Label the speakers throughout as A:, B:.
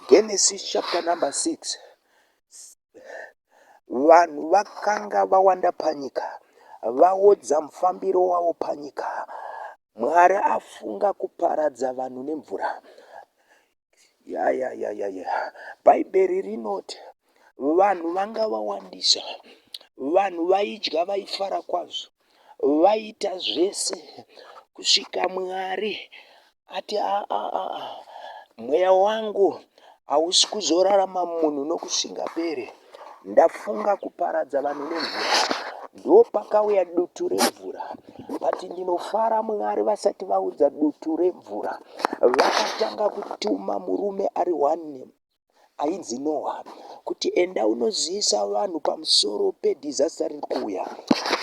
A: Genesis chapter number 6 vanhu vakanga vawanda panyika vaodza mufambiro wavo panyika mwari afunga kuparadza vanhu nemvura yayayayaya bhaibheri rinoti vanhu vanga vawandisa vanhu vaidya vaifara kwazvo vaita zvese kusvika Mwari ati aa mweya wangu hausi kuzorarama munhu nokusingaperi, ndafunga kuparadza vanhu nemvura. Ndopakauya dutu remvura, vati ndinofara Mwari vasati vaudza dutu remvura, vakatanga kutuma murume ari one ainzi Noha kuti enda unozivisa vanhu pamusoro pedhizasta riri kuuya,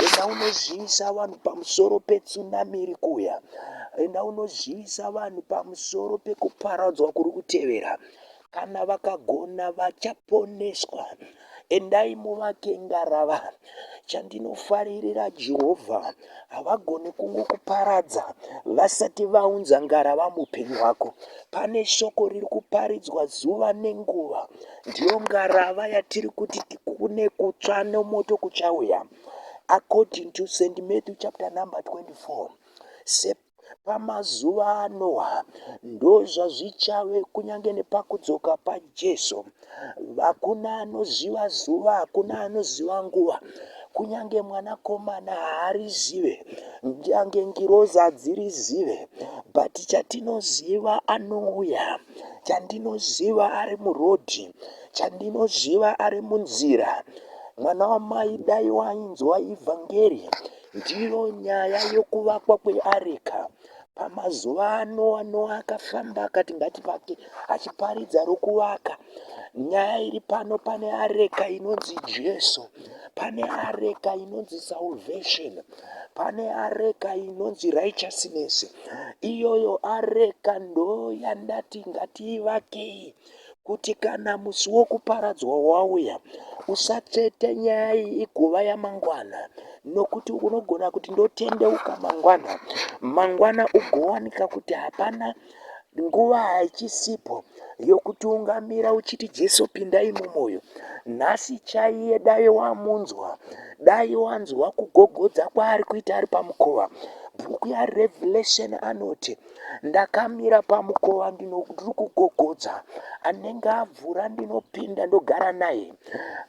A: enda unozivisa vanhu pamusoro petsunami iri kuuya, enda unozivisa vanhu pamusoro pekuparadzwa kuri kutevera. Kana vakagona vachaponeswa. Endai muvake ngarava. Chandinofaririra Jehovha, havagoni kungokuparadza vasati vaunza ngarava muupenyu hwako. Pane shoko riri kuparidzwa zuva nenguva. Ndiyo ngarava yatiri kuti kune kutsva nomoto kuchauya. According to St. Matthew chapter number 24, pamazuva aNoa, ndozvazvichave kunyange nepakudzoka paJesu. Hakuna anoziva zuva, hakuna anoziva nguva, kunyange mwanakomana haarizive, nyange ngirozi hadzirizive, but chatinoziva anouya, chandinoziva ari murodhi, chandinoziva ari munzira. Mwana wamai dai wainzwa ivhangeri Ndiyo nyaya yokuvakwa kweareka. Pamazuva ano Noa akafamba akati ngativake achiparidza rokuvaka. Nyaya iri pano pane areka inonzi Jesu. Pane areka inonzi salvation. Pane areka inonzi righteousness. Iyoyo areka ndoyandati ngatiivakei. kuti kana musi wokuparadzwa wauya usatsvete nyaya iyi igova yamangwana nokuti unogona kuti ndotendeuka mangwana mangwana ugowanika kuti hapana nguva haichisipho yokutiungamira uchiti jesu pindai mumoyo nhasi chaiye dai wamunzwa dai wanzwa kugogodza kwaari kuita ari pamukova bhuku yarevelation anoti Ndakamira pamukova ndino- ndiri kugogodza anenge avhura ndinopinda ndogara naye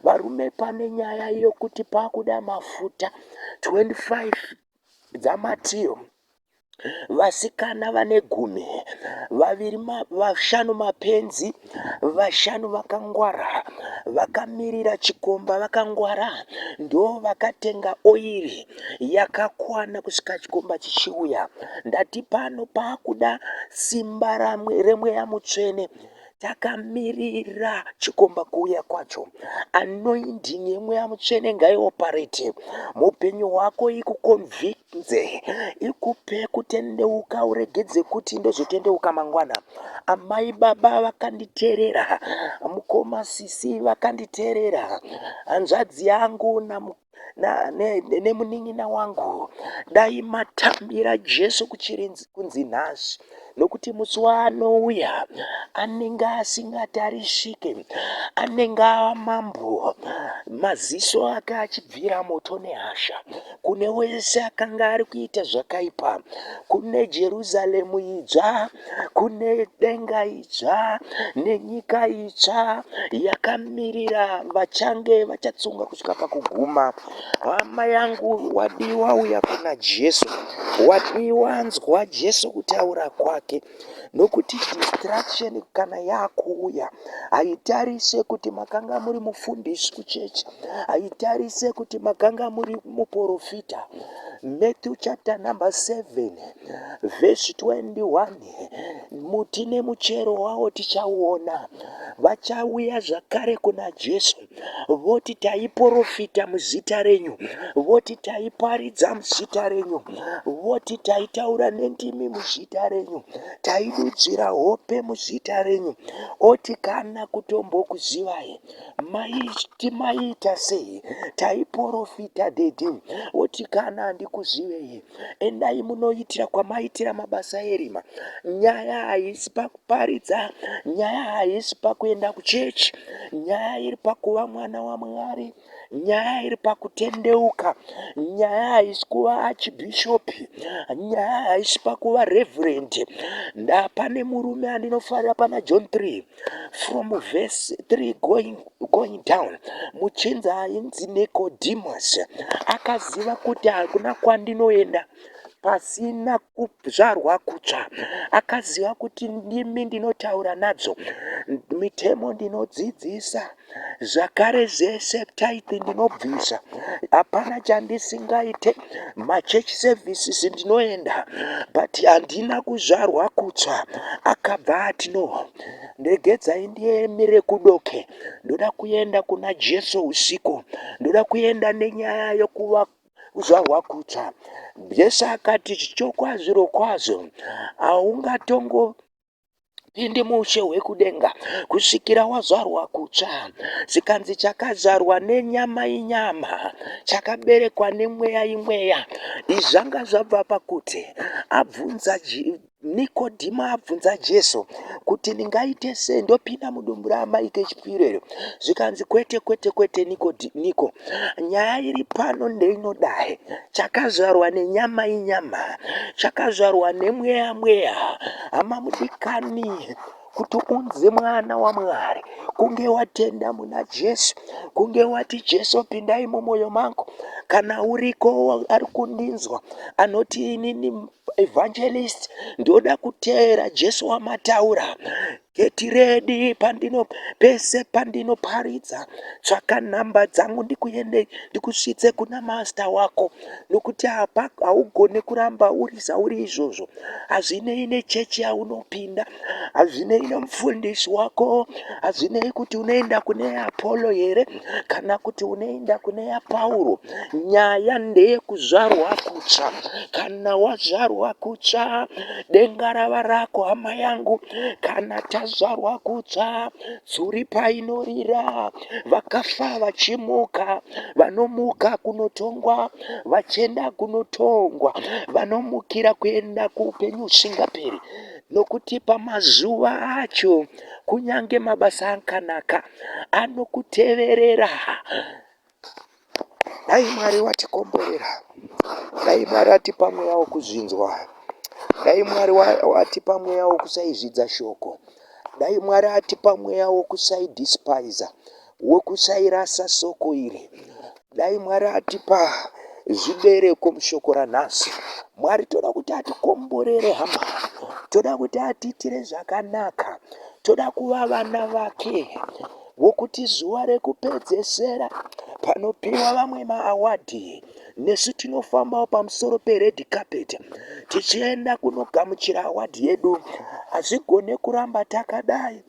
A: varume pane nyaya yokuti pakuda mafuta 25 dzamatiyo vasikana vane gumi vaviri ma- vashanu mapenzi vashanu vakangwara vakamirira chikomba vakangwara ndo vakatenga oiri yakakwana kusvika chikomba chichiuya ndati pano pakuda simba remweya mutsvene takamirira chikomba kuuya kwacho anoinding yemweya mutsvene ngaioparate mupenyu hwako ikukonvik Nze, ikupe kutendeuka uregedze kuti ndozotendeuka mangwana. Amai baba vakanditerera, mukoma sisi vakanditerera, hanzvadzi yangu namu nemunin'ina wangu dai matambira jesu kuchirinzi kunzi nhasi nokuti musi waanouya anenge asingatarisike anenge ava mambo maziso ake achibvira moto nehasha kune wese akanga ari kuita zvakaipa kune jerusaremu idzva kune denga idzva nenyika itsva yakamirira vachange vachatsunga kusvika pakuguma Hama yangu wadiwa uya kuna Jesu. Wadiwa nzwa Jesu kutaura kwake. Nokuti distraction kana yakuuya haitarise kuti makanga muri mufundisi kuchechi. Haitarise kuti makanga muri muporofita. Matthew chapter number 7 verse 21 muti nemuchero wawo tichauona. Vachauya zvakare kuna Jesu. voti taiporofita muzita renyu voti taiparidza muzita renyu voti taitaura nendimi muzita renyu taidudzira hope muzita renyu oti kana kutombokuzivai maiti maiita sei taiporofita dedi oti kana handikuzivei endai munoitira kwamaitira mabasa erima nyaya haisi Paridza nyaya haisi pakuenda kuchechi, nyaya iri pakuva mwana waMwari, nyaya iri pakutendeuka, nyaya haisi kuva achibhishopi, nyaya haisi pakuva reverend. Ndapane murume andinofarira pana John 3 from verse 3 going, going down muchinzi ainzi Nicodemus akaziva kuti hakuna kwandinoenda pasina kuzvarwa kutsva akaziva kuti ndimi ndinotaura nadzo mitemo ndinodzidzisa zvakare zvese type ndinobvisa hapana chandisingaite machurch services ndinoenda but handina kuzvarwa kutsva akabva ati no ndegedzai ndiemire kudoke ndoda kuenda kuna jesu usiku ndoda kuenda nenyaya yokuva kuzvarwa kutsva. Jesu akati zvirokwazvo kwazvo haungatongo pindi mushe hwekudenga kusvikira wazvarwa kutsva zvikanzi chakazvarwa nenyama inyama chakaberekwa nemweya imweya izvi zvanga zvabva pakuti abvunza Nikodhimo abvunza Jesu kuti ndingaite sei ndopinda mudumbu raamai kechipiri iro zvikanzi kwete kwete kwete niko niko nyaya iri pano ndeinodai chakazvarwa nenyama inyama chakazvarwa nemweya mweya hama mudikani kuti unzi mwana wamwari kunge watenda muna jesu kunge wati jesu pindai mumwoyo mangu kana uriko ari kundinzwa anoti inini Evangelist ndoda kuteera Jesu wamataura geti redi pandino pese pandino paridza tsvaka nhamba dzangu ndikuende ndikusvitse kuna master wako nokuti hapa haugone kuramba uri zvauri izvozvo hazvinei nechechi yaunopinda hazvinei nomufundisi wako hazvinei kuti unoenda kune apollo here kana kuti unoenda kune yapauro nyaya ndeyekuzvarwa kutsva kana wazvarwa kutsva denga rava rako hama yangu kana tazvarwa kutsva tsuri painorira vakafa vachimuka vanomuka kunotongwa vachienda kunotongwa vanomukira kuenda kuupenyu husingaperi Nokuti pamazuva acho kunyange mabasa akanaka anokuteverera. Dai Mwari watikomborera, dai Mwari atipa mweya wokuzvinzwa, dai Mwari atipa mweya wokusaizvidza shoko, dai Mwari atipa mweya wokusaidespaiza. wekusairasa soko iri dai mwari atipa zvibereko mushoko ranhasi mwari toda kuti atikomborere hama toda kuti atiitire zvakanaka toda kuva vana vake vokuti zuva rekupedzesera panopiwa vamwe maawadhi nesu tinofambawo pamusoro pered carpet tichienda kunogamuchira awadhi yedu hazvigone kuramba takadai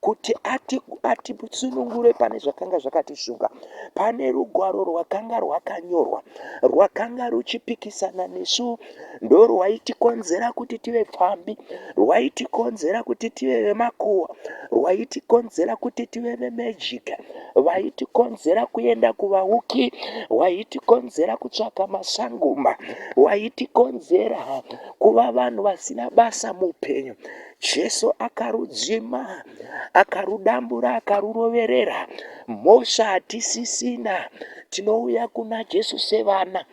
A: kuti atisunungure ati pane zvakanga zvakatishunga pane rugwaro rwakanga rwakanyorwa rwakanga ruchipikisana nesu ndorwaitikonzera kuti tive pfambi rwaitikonzera kuti tive vemakuwa rwaitikonzera kuti tive vemejika vaitikonzera kuenda kuvauki waitikonzera kutsvaka masangoma waitikonzera kuva vanhu vasina basa muupenyu Jesu akarudzima, akarudambura, akaruroverera. Mhosva hatisisina, tinouya kuna Jesu sevana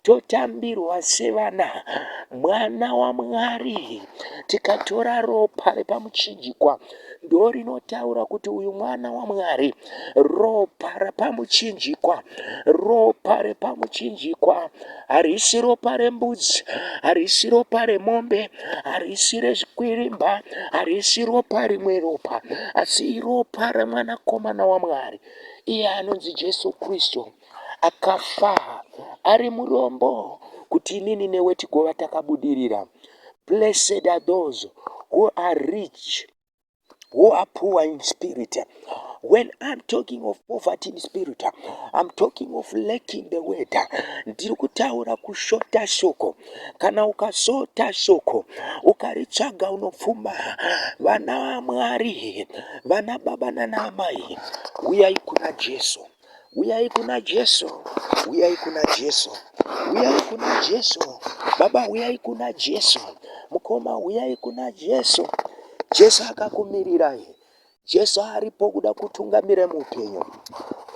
A: totambirwa sevana mwana wamwari tikatora ropa repamuchinjikwa ndorinotaura kuti uyu mwana wamwari ropa repamuchinjikwa ropa repamuchinjikwa harisi ropa rembudzi harisi ropa remombe harisi rezvikwirimba harisi ropa rimwe ropa asi iropa remwanakomana wamwari iye anonzi jesu kristu akafa ari murombo kuti inini newe tigova takabudirira blessed are those who are rich who are poor in spirit. When I'm talking of poverty in spirit, I'm talking of lacking the word. Ndiri kutaura kushota shoko. Kana ukashota shoko, ukaritsvaga unopfuma. Vana Mwari, vana baba nana amai, uyai kuna Jesu. Uyai kuna Jesu, uyai kuna Jesu, uyai kuna Jesu. Baba, uyai kuna Jesu. Mukoma, uyai kuna Jesu. Jesu akakumirirai. Jesu aripo kuda kutungamira muupenyu.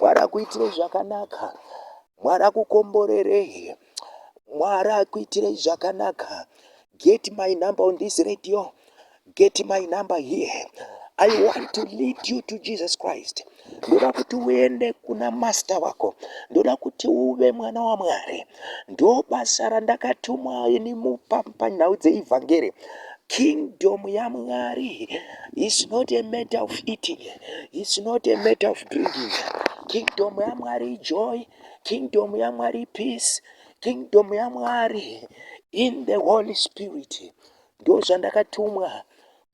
A: Mwari akuitire zvakanaka. Mwari akukomborerei. Mwari akuitirei zvakanaka. Get my number on this radio. Get my number here. I want to lead you to Jesus Christ. Ndoda kuti uende kuna master wako. Ndoda kuti uve mwana waMwari. Ndo basa randakatumwa ini mupa panhau dzeivhangeri. Kingdom yaMwari is not a matter of eating. It's not a matter of drinking. Kingdom yaMwari joy kingdom yamwari peace kingdom yamwari in the holy spirit ndo zvandakatumwa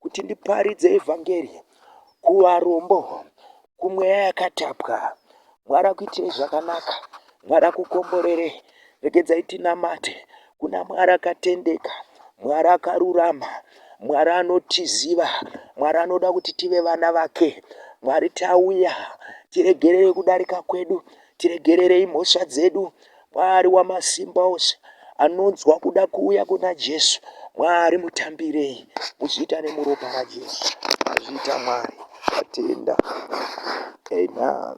A: kuti ndiparidze evhangeri kuvarombo kumweya yakatapwa mwari akuitirei zvakanaka mwari akukomborerei regedzai tinamate kuna Mwari akatendeka, Mwari akarurama, Mwari anotiziva, Mwari anoda kuti tive vana vake. Mwari tauya, tiregererei kudarika kwedu, tiregererei mhosva dzedu. Mwari wamasimba ose anonzwa kuda kuuya kuna Jesu. Mwari mutambirei, muzviita nemuropa raJesu. Azviita Mwari, tatenda. Amen.